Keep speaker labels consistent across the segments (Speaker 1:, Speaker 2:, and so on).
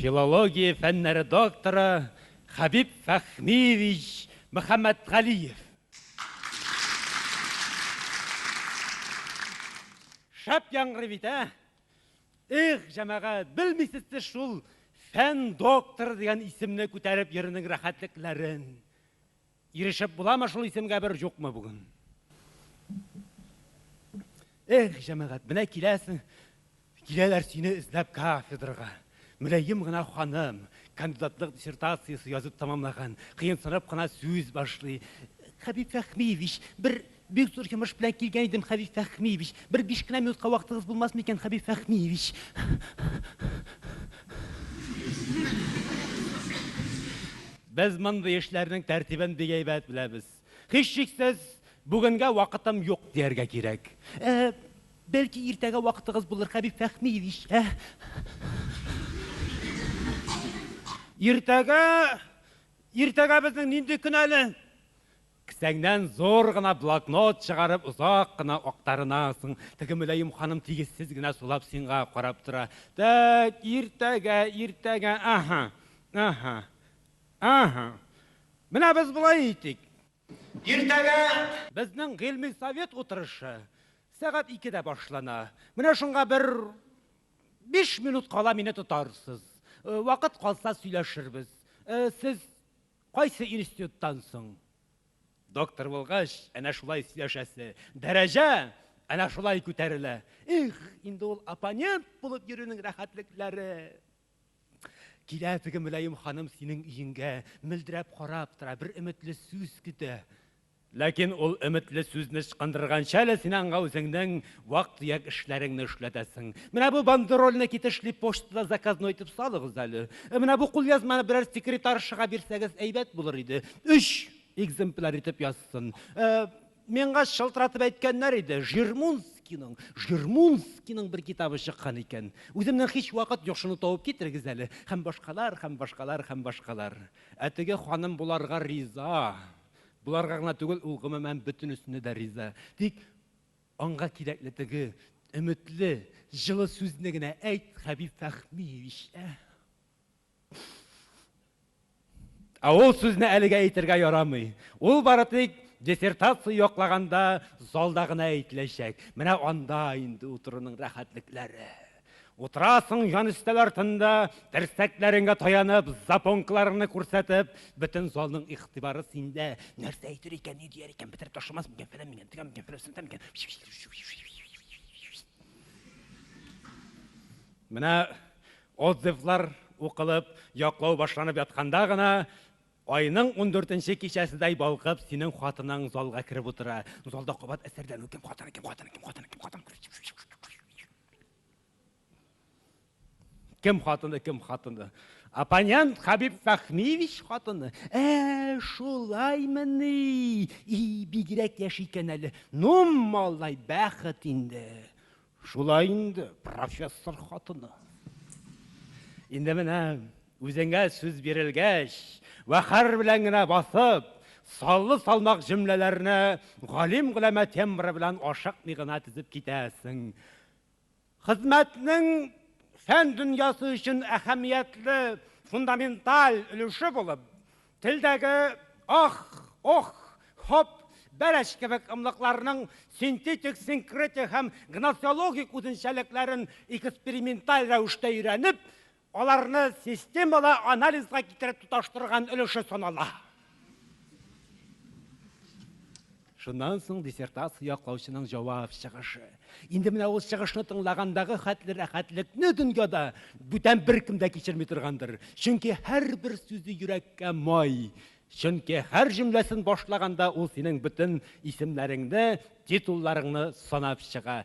Speaker 1: Филология фәннәре докторы Хәбиб Фәхмиевич Мөхәммәтгалиев. Шәп яңгырый бит, ә? Их, җәмәгать, белмисез сез шул фән докторы дигән исемне күтәреп йөрүнең рәхәтлекләрен. Ирешеп буламы шул исемгә бер җукмы бүген? Эх, җәмәгать, менә киләсең, киләләр сине эзләп кафедрага. Мөләем гына ханым, кандидатлык диссертациясе язып тамамлаган, кыенсынып кына сүз башлый. Хәбиб Фәхмиевич, бер Бик зур йомыш белән килгән идем, Хәбиб Фәһмиевич. Бер биш кенә минутка вакытыгыз булмасмы икән, Хәбиб Фәһмиевич? Без мондый эшләрнең тәртибен бик әйбәт беләбез. Һичшиксез, бүгенгә вакытым юк, дияргә кирәк. Ә, бәлки, иртәгә вакытыгыз булыр, Хәбиб Фәһмиевич, ә? Иртәгә? Иртәгә безнең нинди көн әле? Кесәңнән зур гына блокнот чыгарып озак кына актарынасың. Теге мөлаем ханым тигезсез генә сулап синга карап тора. Тәк, иртәгә, иртәгә, аһа, аһа, аһа. Менә без болай итик. Иртәгә. Безнең гыйльми совет утырышы сәгать икедә башлана. Менә шунга бер биш минут кала мине тотарсыз. Вакыт калса сөйләшербез. Сез. Кайсы институттан соң? Доктор булгач, әнә шулай сөйләшәсе. Дәрәҗә әнә шулай күтәрелә. Их, инде ул оппонент булып йөрүнең рәхәтлекләре! Килә теге мөлаем ханым синең өеңгә, мөлдерәп карап тора, бер өметле сүз көтә. Ләкин ул өметле сүзне ычкындырганчы әле син аңа үзеңнең вак-төяк эшләреңне эшләтәсең. Менә бу бандерольне китешли почтада заказной итеп салыгыз әле. Менә бу кулъязманы берәр секретаршага бирсәгез әйбәт булыр иде. Өч экземпляр итеп язсын. Ә, миңа шылтыратып әйткәннәр иде, Жирмунскийның, Жирмунскийның бер китабы чыккан икән. Үземнең һич вакыт юк, шуны табып китерегез әле. Һәм башкалар, һәм башкалар, һәм башкалар. Ә теге ханым боларга риза. Боларга гына түгел, ул гомумән бөтенесенә дә риза. Тик аңга кирәкле теге өметле, җылы сүзне генә әйт, Хәбиб Фәхмиевич, ә? Ә ул сүзне әлегә әйтергә ярамый. Ул бары тик диссертация яклаганда залда гына әйтеләчәк. Менә анда инде утыруның рәхәтлекләре. Утырасың җан өстәл артында, терсәкләреңгә таянып, запонкаларыңны күрсәтеп, бөтен залның игътибары синдә. Нәрсә әйтер икән, ни дияр икән, бетереп ташламас микән, фәлән микән, тегән микән, фәлән сәлән микән? Менә отзывлар укылып, яклау башланып ятканда гына Айның 14-нче кичәседәй балкып, синең хатының залга кереп утыра. Залда кабат әсәрләнү, кем хатыны, кем хатыны, кем хатыны, кем хатыны. Кем хатыны, кем хатыны? Оппонент Хабиб Фәхмиевич хатыны. Ә, шулаймыни? И, бигрәк яшь икән әле. Ну, малай, бәхет инде. Шулай инде, профессор хатыны. Инде менә Үзеңә сүз бирелгәч, вәкарь белән генә басып, саллы-салмак җөмләләрне галим-голәмә тембры белән ашыкмый гына тезеп китәсең. Хезмәтнең фән дөньясы өчен әһәмиятле фундаменталь өлеше булып, телдәге ах, ох, хоп, бәрәч кебек ымлыкларның синтетик, синкретик һәм гносеологик үзенчәлекләрен эксперименталь рәвештә өйрәнеп, Аларны системалы анализга китереп тоташтырган өлеше санала. Шуннан соң диссертация яклаучының җавап чыгышы. Инде менә ул чыгышны тыңлагандагы хәтле рәхәтлекне дөньяда бүтән беркем дә кичерми торгандыр. Чөнки һәрбер сүзе йөрәккә май. Чөнки һәр җөмләсен башлаганда ул синең бөтен исемнәреңне, титулларыңны санап чыга.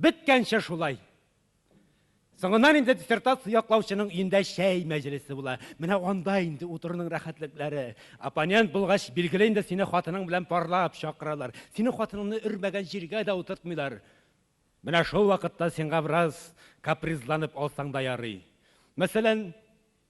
Speaker 1: Беткәнче шулай. Соңыннан инде диссертация яклаучының өендә чәй мәҗлесе була. Менә анда инде утыруның рәхәтлекләре. Оппонент булгач, билгеле инде сине хатының белән парлап чакыралар. Синең хатыныңны өрмәгән җиргә дә утыртмыйлар. Менә шул вакытта сиңа бераз капризланып алсаң да ярый. Мәсәлән,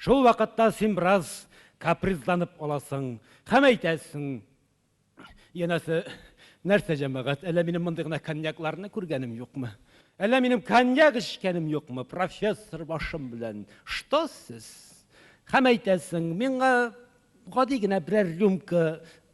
Speaker 1: Шул вакытта син бераз капризланып аласың һәм әйтәсең, Янәсе, нәрсә, җәмәгать, әллә минем мондый гына коньякларны күргәнем юкмы? Әллә минем коньяк эчкәнем юкмы, профессор башым белән? Что сез? Һәм әйтәсең, Миңа гади генә берәр рюмка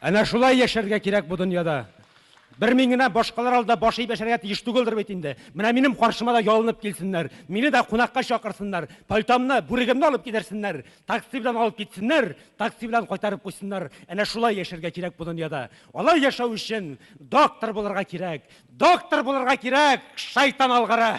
Speaker 1: Әнә шулай яшәргә кирәк бу дөньяда. Бер мин генә башкалар алдында баш иеп яшәргә тиеш түгелдер бит инде. Менә минем каршыма да ялынып килсеннәр. Мине дә кунакка чакырсыннар. Пальтомны, бүрегемне алып кидерсеннәр. Такси белән алып китсеннәр, такси белән кайтарып куйсыннар. Әнә шулай яшәргә кирәк бу дөньяда. Алай яшәү өчен доктор булырга кирәк. Доктор булырга кирәк, шайтан алгыры!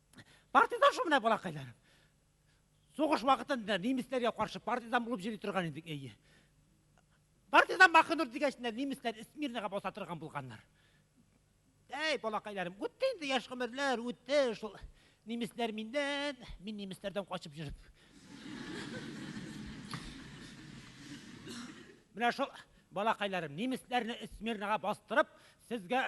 Speaker 1: Партизан шул менә балакайларым. Сугыш вакытында немецләргә каршы партизан булып йөри торган идек, әйе. Партизан Махнур дигәч, немецләр Смирнага баса торган булганнар. Әй, балакайларым, үтте инде яшь гомерләр, үтте шул немецләр миннән, мин немецләрдән качып йөреп. Менә шул балакайларым, немецләрне Смирнага бастырып, сезгә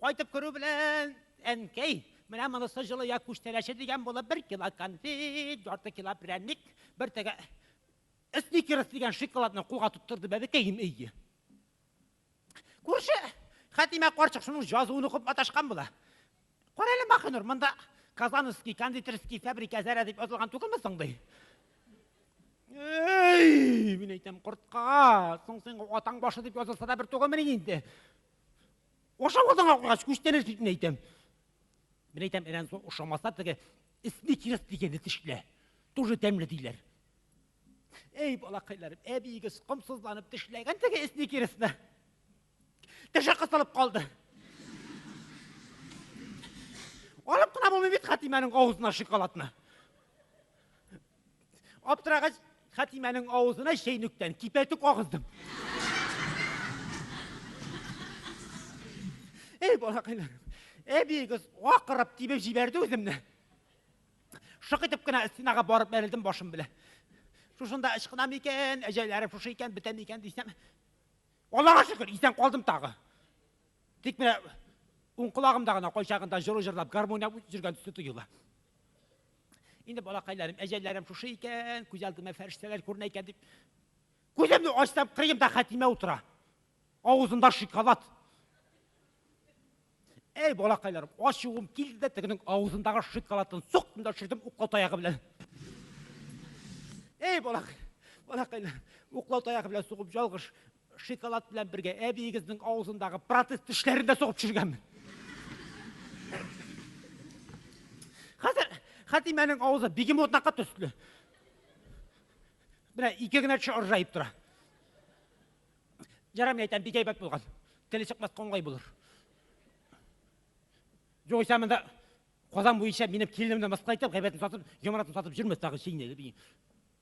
Speaker 1: Кайтып керү белән, әнкәй, менә монысы җылыя күчтәнәче дигән булып, бер кило конфет, ярты кило прәнник, бер теге сникерс дигән шоколадны кулга тоттырды бәбекәем, әйе. Күрше Хәтимә карчык шуның җазуын укып маташкан була. Кара әле, Махинур, монда Казановский кондитерский фабрика зәрә дип язылган түгелме соң, ди. Әй, мин әйтәм, кортка, соң син атаң башы дип язылса да бер түгелмени инде. Ошау атың аклагач, күчтәнәч бит мин әйтәм. Мин әйтәм, әнә соң ошамаса теге эсне кирес дигәнне тешлә. Тоже тәмле диләр. Әй, балакайларым, әбиегез комсызланып тешләгән теге эсне киресне. Теше кысылып калды. Алып кына булмый бит Хатимәнең авызына шоколадны. Аптырагач, Хәтимәнең авызына чәйнүктән кипәтүк агыздым. Эй, балакайлар, әбиегез акырып тибеп җибәрде үземне. Шык итеп кенә стенага барып бәрелдем башым белән. Шушында ычкынам икән, әҗәләрем шушы икән, бетәм икән дисәм. Аллага шөкер, исән калдым тагы. Тик менә уң колагымда гына кайчагында җыру җырлап гармония үтеп жүргән төсле тоела. Инде балакайларым, әҗәлләрем шушы икән, күз алдыма фәрештәләр күренә икән дип, күземне ачсам, кырыемда Хәтимә утыра. Авызында шикалат. Әй, балакайларым, ачуым килде дә тегенең авызындагы шикалатын соктым да төшердем уклау таягы белән. Әй, балак, балакайлар, уклау таягы белән сугып ялгыш Шикалат белән бергә әбиегезнең авызындагы протез тешләрен дә сугып төшергәнмен. Хәзер Хәтимәнең авызы бегемотныкы төсле. Менә ике генә теше ыржаеп тора. Ярам әйтәм, бик әйбәт булган. Теле чыкмас коңгай булыр. Югыйсә монда Казан буенча минем киленемне мыскыл итеп, гайбәтен сатып, яманатын сатып йөрмәс тагы чейнәле би.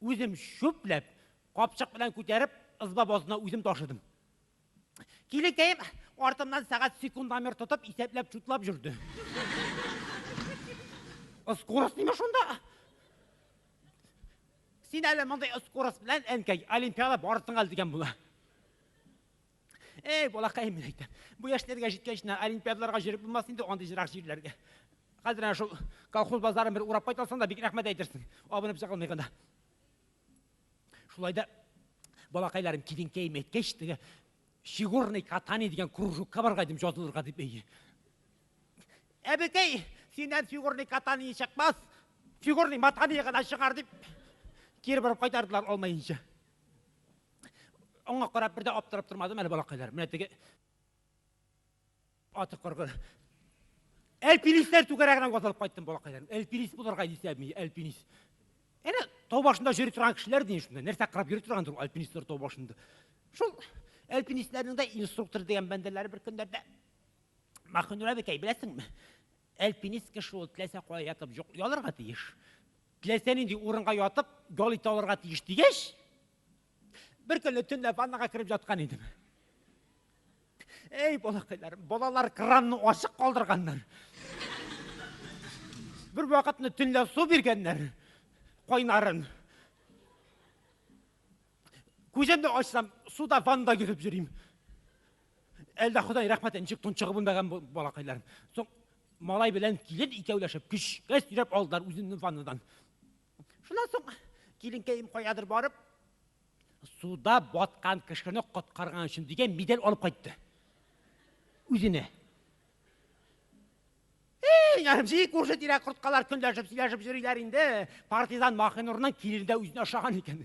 Speaker 1: Үзем чүпләп, капчык белән күтәреп, ызба базына үзем ташыдым. Килекәем артымнан сәгать секундомер тотып, исәпләп, чутлап жүрде. Скорость ниме шунда? Син әле мондый скорость белән, әнкәй, Олимпиада барысың әле дигән була. Эй, балакай, мин әйтәм, бу яшьләргә җиткәч, олимпиадаларга җөреп булмас инде андый җирак җирләргә. Хәзер әнә шул колхоз базарын бер урап кайтасың да, бик рәхмәт әйтерсең, абынып чыгылмый гына. Шулай да, балакайларым, киленкәем әйткәч, теге фигурный катание дигән кружокка барырга идем, җазылырга дип әйе. Әбекәй, синнән фигурный катание чыкмас, фигурный матание гына чыгар дип, кире борып кайтардылар алмаенча. Аңа карап бер дә аптырап тормадым әле балакайлар. Менә теге аты коргы. Әлпилисләр түгәрәгенә ватылып кайттым балакайларым. Әлпилис булырга исәбми, әлпилис. Әнә тау башында йөри торган кешеләр дин шунда. Нәрсә карап йөри торгандыр альпинистлар тау башында. Шул альпинистларның да инструктор дигән бәндәләре бер көннәрдә Махнура бикәй, беләсеңме? Альпинист кеше ул теләсә кая ятып ялырга тиеш, теләсә нинди урынга ятып ял итә алырга тиеш дигәч, беркөнне төнлә ваннага кереп яткан идем. Эй, балакайлар, балалар кранны ачык калдырганнар. Бер вакытны төнлә су биргәннәр, кайнарын. Күземне ачсам, суда ванда йөреп йөрим. Әлдә Ходай рәхмәте ничек тончыгып белмәгән балакайларым. Соң малай белән килен икәүләшеп көчкә сөйрәп алдылар үземне ваннадан. Шуннан соң киленкәем каядыр барып, суда баткан кешене коткарган өчен дигән медаль алып кайтты. Үзенә. Ярым җи күрше тирә корткалар көнләшеп сөйләшеп йөриләр инде. Партизан Махинурның килендә үзен ашаган икән.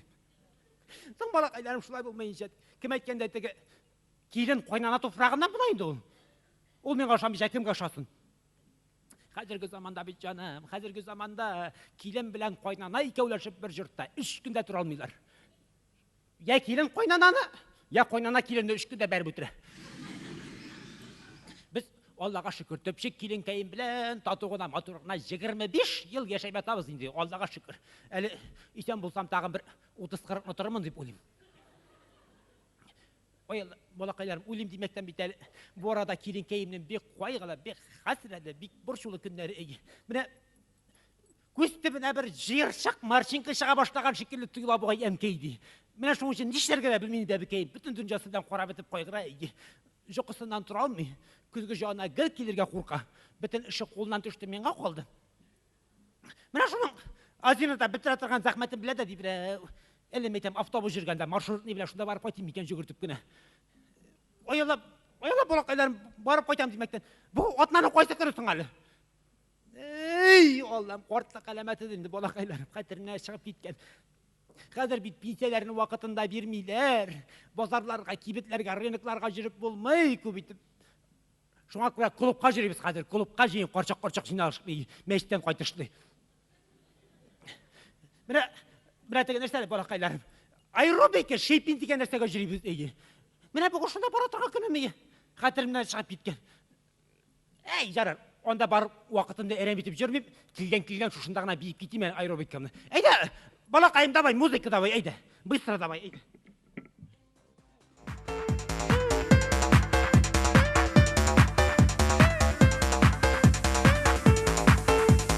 Speaker 1: Соң балакайларым шулай булмаенча, кем әйткәндә теге килен кайнана туфрагыннан була инде ул. Ул миңа ошамыйча кемгә ошасын? Хәзерге заманда бит җаным, хәзерге заманда килен белән кайнана икәүләшеп бер җортта өч көндә тора алмыйлар. Я килен кайнананы, я кайнана киленне өчке дә бәреп үтерә. Без Аллага шөкер, төпчек килен кәем белән тату гына, матур гына 25 ел яшәп ятабыз инде, Аллага шөкер. Әле исән булсам тагын бер 30-40 ны торырмын дип уйлыйм. Ой, балакайларым, уйлыйм димәктән бит әле бу арада килен кәемнең бик кайгылы, бик хәсрәтле, бик борчулы көннәре. Менә Күз төбенә бер җыерчык марчинка чыга башлаган шикелле тоела бугай әнкәй ди. Менә шуның өчен нишләргә дә белми иде әбекәем. Бөтен дөньясы белән карап бетеп кайгыра иде. Җокысыннан тора алмый, көзге җана гел килергә курка. Бөтен эше кулыннан төште, миңа калды. Менә шуның Азинада бетерә торган зәхмәтен белә дә ди берәү. Әле мәйтәм автобус җөргәндә маршрутный белән шунда барып кайтыйм микән җөгертеп кенә. Оялап, оялап балакайларым барып кайтам димәктән. Бу атнаның кайсы көне соң әле? Эй, Аллам, картлык әләмәте инде балакайларым хәтеренә чыгып киткән. Хәзер бит пенсияләрне вакытында бирмиләр. Базарларга, кибетләргә, рынокларга җөреп булмый күп итеп. Шуңа күрә клубка җөрибез хәзер. Клубка җыен, карчак-карчак җыйналышлый, мәчеттән кайтышлый. Менә, менә теге нәрсәләр балакайларым. Аэробика, шейпин дигән нәрсәгә җөрибез, әйе. Менә бүген шунда бара торган көнем, әйе. Хәтеремнән чыгып киткән. Әй, ярар, анда бар вакытымны әрәм итеп җөрмим, килгән килгән шушында гына биеп китим әле аэробикамны. Әйдә, балакаем, давай, музыка давай, әйдә. Быстро давай, әйдә.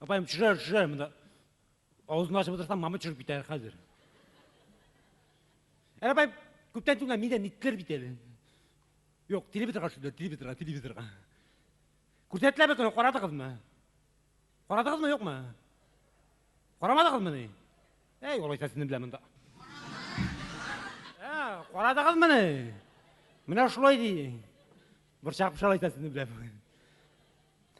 Speaker 1: Апаем, төшерер, төшерер монда. Авызын ачып отырсам, мама төшереп китәр хәзер. Ә апаем, күптән түгел мине ниттер бит әле. Юк, телевизорга төшерде, телевизорга, телевизорга. Күрсәттеләр бит, карадыгызмы? Карадыгызмы, юкмы? Карамадыгызмы ни? Әй, алайса сезне беләм монда. Ә, карадыгызмы ни? Менә шулай ди. Борчак пышалайса сезне беләм.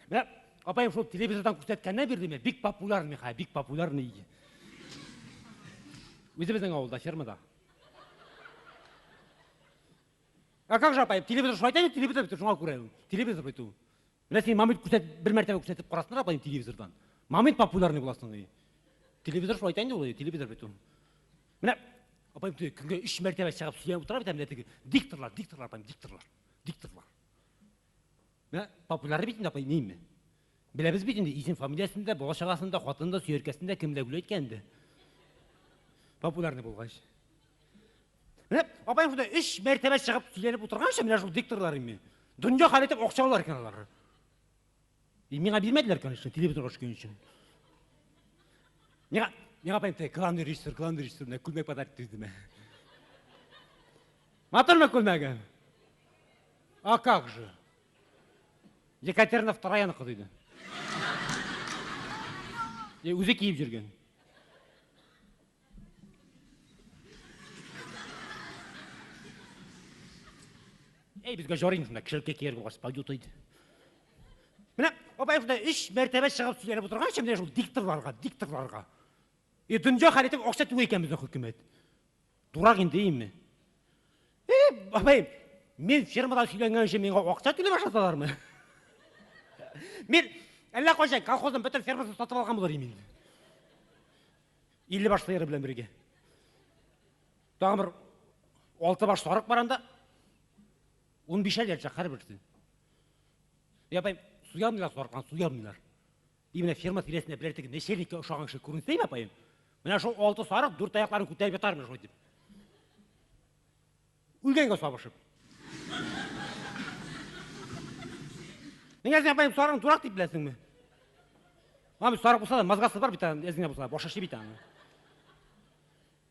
Speaker 1: Менә апаем шул телевизордан күрсәткәннән бирле мин бик популярный хәзер, бик популярный иде. Үзебезнең авылда, фермада. А как же апаем, телевизор шулай әйтә, телевизор бит шуңа күрә. Телевизор бит ул. Менә син мамит күрсәт, бер мәртәбә күрсәтеп карасыннар апаем телевизордан. Мамит популярный буласың и. Телевизор шулай әйтә инде ул, телевизор бит ул. Менә апаем көнгә 3 мәртәбә чыгып сөйләп утыра бит, ә менә теге дикторлар, дикторлар апаем, дикторлар. Дикторлар. Менә популяр бит инде, апай, нейме? Беләбез бит инде, исем фамилиясен дә, бала чагасын да, хатын да, сөяркәсен дә, кем ләгүләй икән инде. Популярный булгач. Менә апаем шунда өч мәртәбә чыгып сөйләнеп утырганчы, менә шул дикторлар инде. Дөнья хәл итеп акча алалар икән алар. И миңа бирмәделәр, конечно, телевизорга төшкән өчен. Миңа, миңа апаем тә главный режиссер, главный режиссер, менә күлмәк подарок итте үземә. Матурмы күлмәгем? А как же? Екатерина втораяны кызы иде. Е, Үзе киеп жүрген. Әй, безгә жарыймыз мына кешелеккә кияр булгач, пойдет иде. Менә апай шунда өч мәртәбә чыгып сөйләнеп утырганчы менә шул дикторларга, дикторларга. И дөнья хәлетең акча түгел икән безнең хөкүмәт. Дурак инде име? Э, бабай, мин фермада сөйләнгән өчен миңа акча түләп ашаталармы? Мин әллә кайчан колхозның бөтен фермасын сатып алган булыр идем. Илле баш сыеры белән бергә. Тагын бер алты баш сарык бар анда. Ун бишәр ячак һәрберсе. Я бай, суярмыйлар сарыклар, суярмыйлар. И менә ферма тирәсендә берәр теге нәчәлниккә ошаган кеше күренсәйме, апаем? Менә шул алты сарык дүрт аякларын күтәреп ятар менә шулай дип. Үлгәнгә сабышып. Нигә син апаем сарыгын дурак дип беләсеңме? Мам, сарык булса да мозгасы бар бит, әзгә булса, башы эшли бит аны.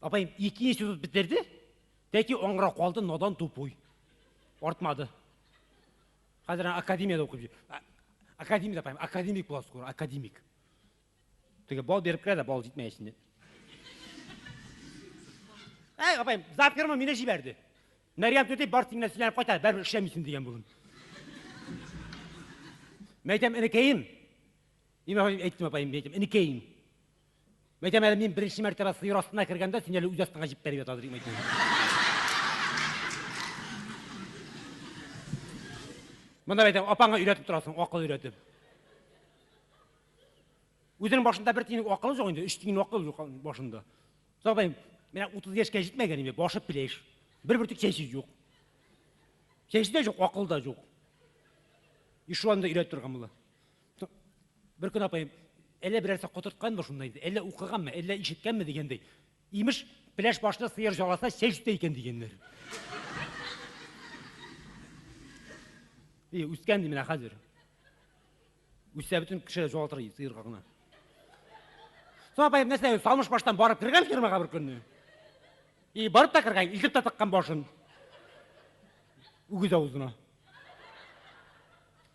Speaker 1: Апаем ике институт бетерде, тәки аңра калды надан тупуй. Артмады. Хәзер академияда укып йөр. Академик апаем, академик була скоро, академик. Теге бал берип керә дә бал җитмәй эченә. Әй, апаем, завкерма мине җибәрде. Мәрьям түти бар тиңнән сөйләнеп кайта, бәрбер эшләмисең дигән булын. Мәйтәм, энекәем. Имә әйттем апаем, мәйтәм, энекәем. Мәйтәм әле мин беренче мәртәбә сыер астына кергәндә, син әле үз астыңа җип бәреп ятадыр, мәйтәм. Монда мәйтәм, апаңа өйрәтеп торасың, акыл өйрәтеп. Үзенең башында бер тиенлек акылы жоқ инде, үш тиенлек акылы жоқ башында. Сабай, менә 30 яшькә җитмәгән инде, башы пилеш. Бер бөртек чәче юк. Чәче дә юк, акыл да юк. И шул анда өйрәтеп торган була. Бер көн апаем, әллә берәрсе котыртканмы шунда инде, әллә укыганмы, әллә ишеткәнме дигәндәй, имеш, пеләш башны сыер жаласа, чәй җитә икән дигәннәр. И, үскән ди менә хәзер. Үссә бөтен кеше җуалтыр иде сыерга гына. Соң апаем нәрсә, салмыш баштан барып кергән фермага бер көнне. И, барып та кергән, илтеп тә тыккан башын. Үгез авызына.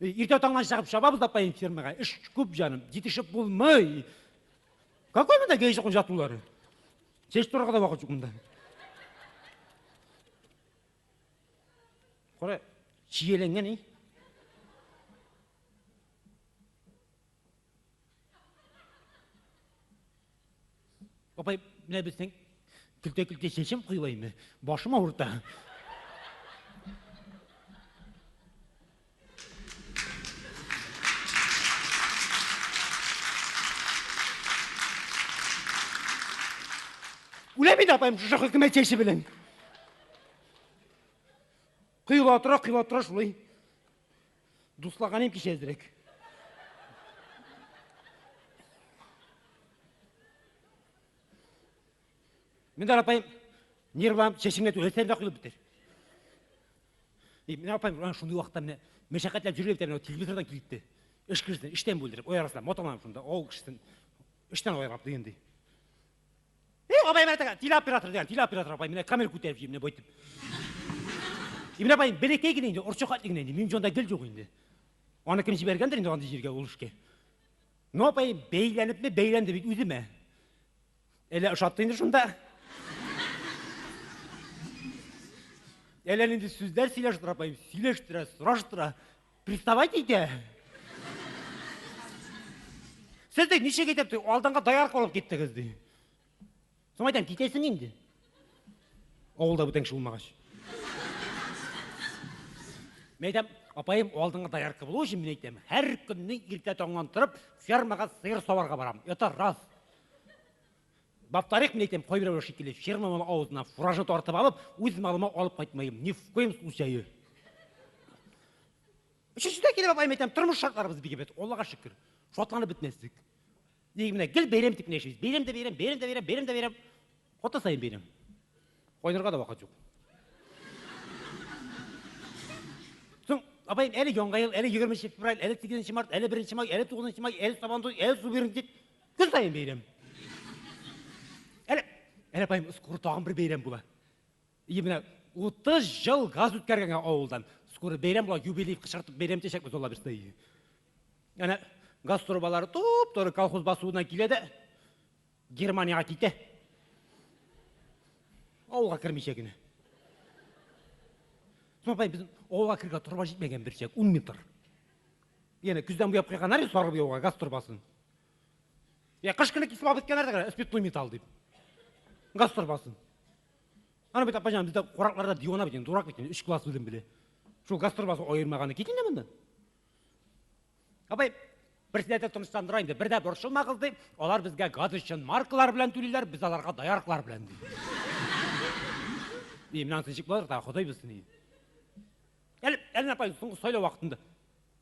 Speaker 1: Иртә таңнан чыгып чабабыз апаем фермага. Эш күп җаным, җитешеп булмый. Какой монда гейзы кунжатулары? Чәч турырга да вакыт юк монда. Кара, чиеләнгән, и. Апай, менә безнең көлтә-көлтә чәчем коелаймы? Башым авырта. Үләм инде апайым шушы хөкүмәт чәче белән. Коела тора, коела тора шулай. Дуслаганым кичә әзрәк. Менә апаем, нервам, чәчемгә түгәсән дә куелып бетер. И, менә апаем, ана шундый вакытта менә мәшәкатьләр җөргә бетә, телевизордан килде. Эш кешесен эштән бүлдереп, ой арасында маталам шунда, авыл кешесен эштән аерып дигәндәй. Э, абай менә тәгә, телеоператор дигән, телеоператор абай менә камера күтәреп йөри менә байтып. И менә абай бәләкәй генә инде, орчык атлы генә инде, минем җанда гел юк инде. Аны кем җибәргәндер инде андый җиргә ул эшкә. Ну абай бәйләнепме, бәйләнде бит үземә. Әллә ошатты инде шунда. Әллә нинди сүзләр сөйләштерә апаем, сөйләштерә, сораштыра. Приставать итә. Сез дә ничек итеп ди, алдыңга даярка алып киттегез ди. Соң әйтәм, китәсең инде. Авылда бүтән кеше булмагач. Мен әйтәм, апаем, алдыңа даярка булу өчен мен әйтәм, һәр көнне иртә таңнан торып, фермага сыер саварга барам. Это раз. Баттарик мин әйтәм, кайберәүләр шикелле, фермамның авызына фуражны тартып алып, үз малыма алып кайтмыйм. Ни в коем случае. Өченче дә килеп апаем әйтәм, тормыш шартларыбыз бик әйбәт, Аллага шөкер. Шатланып бетмәслек. Ник менә гел бәйрәм дип яшибез. Бәйрәм дә бәйрәм, бәйрәм дә бәйрәм, бәйрәм дә бәйрәм. Хатын саен бәйрәм. Кайнарга да вакыт юк. Соң апаем әле яңа ел, әле 20 февраль, әле 8 март, әле 1 май, әле 9 май, әле сабантуй, әле субернтик. Көн саен бәйрәм. Әле, әле апаем, скоро тагын бер бәйрәм була. И менә 30 ел газ үткәргәнгә авылдан. Скоро бәйрәм була, юбилей кычкыртып бәйрәм итәчәкбез алла бирса. Әнә газ трубалары туп-туры колхоз басуына килә дә Германиягә китә. Авылга кермичә генә. Соң апаем, безнең авылга кергә труба җитмәгән берчәк, 10 метр. Яна көздән буяп куйганнар сарып яуга газ турбасын. Я кыш көне кисеп алып киткәннәр дә спиртлы металл дип. Газ торбасын. Аны бит апаҗан бездә куракларда дивана бит, дурак бит, 3 класс үзем беле. Шул газ торбасы аермаганы кит инде монда. Абай, берсенә дә тынычландыра инде. Бер дә борчылмагыз ди, алар безгә газ өчен маркалар белән түлиләр, без аларга даярклар белән ди. И, менә ничек булыр да, Ходай белсен. Әле, әле апай, соңгы сайлау вакытында.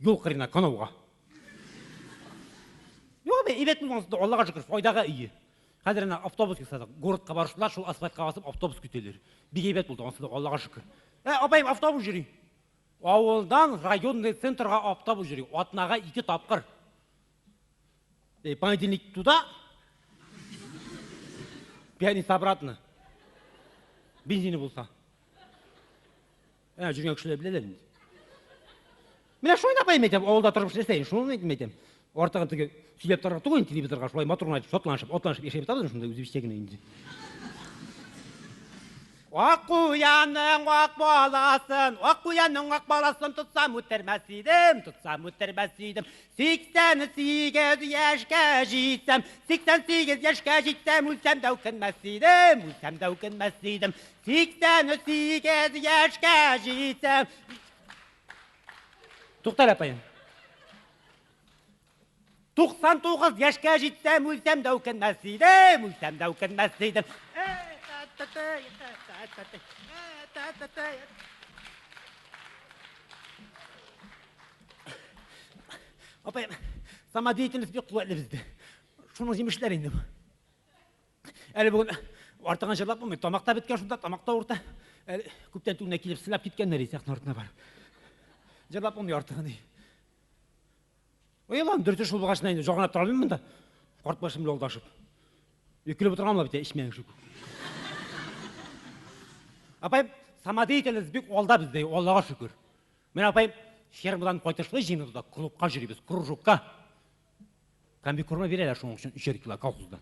Speaker 1: Юл кырына канауга. Юк, бе, иләтнең ансында, Аллага шөкер, файдага ие. Хәзер әнә автобус ясадык. Городка барышында шул асфальтка басып автобус көтелер. Бик әйбәт булды, ансында, Аллага шөкер. Ә, апаем, автобус йөри. Авылдан районный центрга автобус йөри. Атнага ике тапкыр. Э, понедельник туда, пятница обратно. Бензины булса. Ә, жүргән кешеләр беләләр инде. Менә шуны апаем әйтәм, авылда торып эшләсәйен, шуны әйтем әйтәм. Артыгын теге сөйләп торырга түгел инде телевизорга, шулай матур гына шатланышып, атланышып яшәп ятабыз шунда үзебезчә генә инде. Ак куяның ак баласын, ак куяның ак баласын тотсам үтермәс идем, тотсам үтермәс идем. 88 яшькә җитсәм, 88 яшькә җитсәм, үлсәм дә үкенмәс идем, үлсәм дә үкенмәс идем. Сиксән сигез яшкә җитсәм. Тукта әле, апаем. 99 яшкә җитсәм, үлсәм дә үкенмәс идем, үлсәм дә үкенмәс идем. Апаем, самодеятельность бик куәтле бездә. Шуның җимешләре инде бу. Әле бүген артыгын җырлап булмый. Тамак та беткән шунда, тамак та урта. Әле күптән түгел килеп сылап киткәннәр ди сәхнә артына барып. Җырлап булмый артыгын. Ой, Аллам, дөрте шул булгач, инде җагына тора алмыйм монда. Карт башым белән алдашып. Өкелеп утырган була бит, эчмәң шул. Апай, самодеятельность бик алда бездә, Аллага шөкер. Менә апай фермадан кайтышлый җиңел да клубка җөрибез, кружокка. Комбикорма бирәләр шуның өчен өчәр кило колхозда.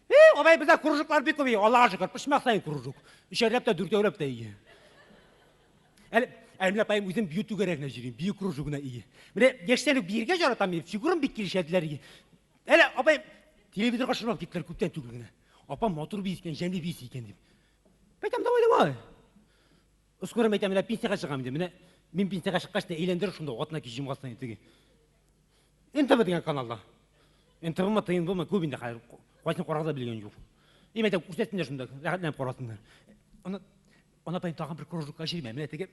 Speaker 1: Э, алай бездә кружоклар бик күп, Аллага шөкер, пычмак саен кружок. Өчәрләп тә, дүртәүләп тә ие. Әле Әлмә апаем үзем бию түгәрәгенә җөрим, бию кружогына ие. Менә яшьтән үк биергә яратам, мин фигурам бик килешәделәр ие. Әле апаем телевизорга шырмап киттеләр күптән түгел генә. Апам матур бию икән, җәнле бию икән дип. Әйтәм, давай, давай. Скорым әйтә, менә пенсияга чыгам инде. Менә мин пенсияга чыккач та әйләндер шунда атына кич җомгасына теге. НТВ дигән каналда. НТВмы, ТНВмы күп инде хәзер. Кайсын карарга белгән юк. И мәйтә күрсәтсеннәр шунда, рәхәтләнеп карасыннар. Ана ана тайны тагын бер кружокка җирмә. Менә теге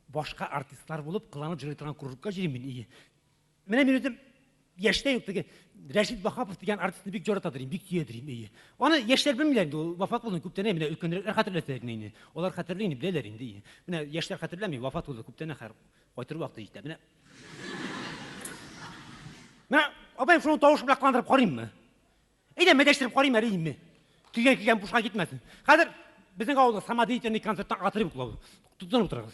Speaker 1: башка артистлар булып кыланып җырлый торган кружокка җирим мин. Менә мин үзем яшьтә юк теге Рәшит Вахапов дигән артистны бик ярата дим, бик сөя дим, әйе. Аны яшьләр белмиләр инде, ул вафат булды күптән, менә өлкәнрәкләр хәтерләсә генә инде. Алар хәтерли инде, беләләр инде. әйе. Менә яшьләр хәтерләми, вафат булды күптән ахыр. Кайтыр вакыты җитә. Менә Менә абай шуны тавыш белән кыландырып карыйммы? Әйдә, мәдәштереп карыйм әле инде. Килгән килгән бушка китмәсен. Хәзер безнең авылда самодеятельный концерттан отрывок була. Тотынып утырыгыз.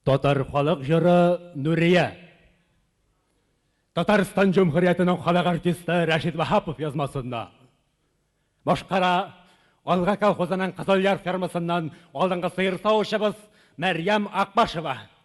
Speaker 1: Татар халык җыры Нурия. Татарстан Җөмһүриятенең халык артисты Рәшид Ваһапов язмасында. Башкара Алга колхозының Кызылъяр фермасыннан алдынгы сыер савучыбыз Мәрьям Акбашева.